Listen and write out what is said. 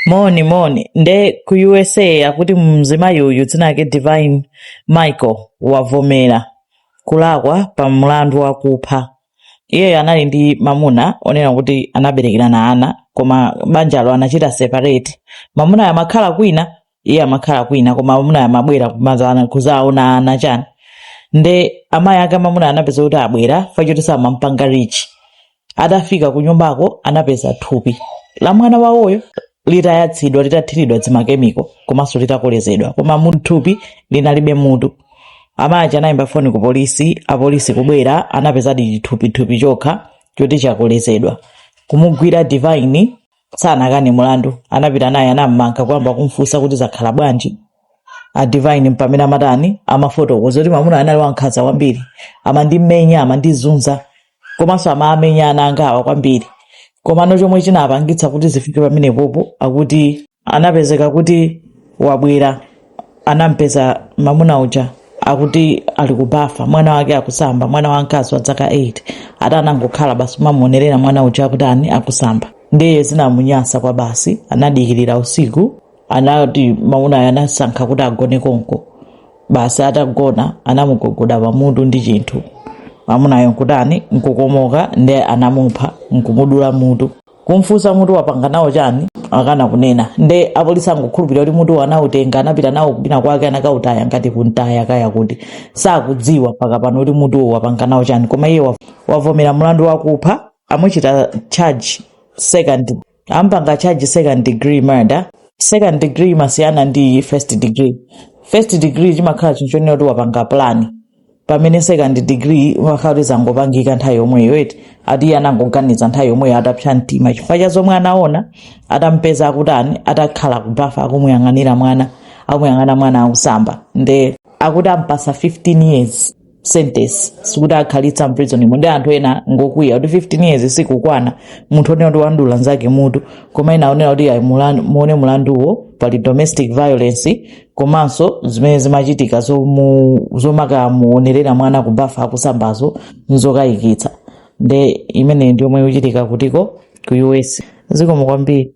moni moni nde ku usa akuti mzimayi uyu dzina lake divine michael wavomera kulakwa pa mlandu wakupha iyeyo anali ndi mamuna onena kuti anaberekerana ana koma banjalo anachita separate mamunayo amakhala kwina iye amakhala kwina koma amuna amabwera kumazaona kuzaona ana chani nde amayi ake amamuna anapeza kuti abwera chifukwa choti samampanga reach atafika ku nyumbako anapeza thupi la mwana wawoyo litayatsidwa litathiridwa zimakemiko komanso litakolezedwa koma thupi linalibe mutu amayi anayimba foni ku polisi apolisi kubwera anapezadi chithupithupi chokha choti chakolezedwa kumugwira divine sanakane mulandu anapita naye anammanga kuyamba kumfunsa kuti zakhala bwanji a divine mpamene amatani amafotokoza kuti mamuna anali wankhanza kwambiri amandimenya amandizunza komanso amaamenya ana angawa kwambiri komano chomwe chinapangitsa kuti zifike pamenepopo akuti anapezeka kuti wabwera anampeza mamuna uja akuti ali kubafa mwana wake akusamba mwana wamkazi wa zaka 8 ati anangokhala basi kumamuonerera mwana uja akuti ani akusamba ndiye zinamunyasa kwabasi anadikirira usiku anati mamunayo anasankha kuti agone konko basi atagona anamugogoda pamutu ndi chinthu mamunayo nkutani nkukomoka ndiye anamupha nkumudula mutu kumfunsa mutu wapanga nawo chani akana kunena nde apolisi angokhulupirira kuti mutu anautenga anapita nawo kwina kwake anakautaya ngati kumtaya kaya kuti sakudziwa mpaka pano kuti mutuwo wapanga nawo chani koma iye wa- wavomera mulandu wakupha amuchita charge second ampanga charge second degree murder second degree imasiyana ndi first degree first degree chimakhala chinthu chonena kuti wapanga plan pamene second degree umakhala kuti zangopangika nthawi yomweyo eti ati iye anangoganiza nthawi yomweyo atapsa mtima chifukwa cha zomwe anaona atampeza akutani atakhala kubafa akumuyang'anira mwana akumuyang'ana mwana akusamba nde akuti ampatsa 15 years sentence sikuti akhalitsa mprisonimo ndi anthu ena ngokwiya kuti 15 years sikukwana munthu onena kuti wandula nzake mutu koma ena akunena kuti ayi mulan- muone mulanduwo pali domestic violence komanso zimene zimachitika zomu- zomakamuonerera mwana kubafa akusambazo nzokayikitsa nde imeneyi ndi yomwe ikuchitika kutiko ku us zikomo kwambiri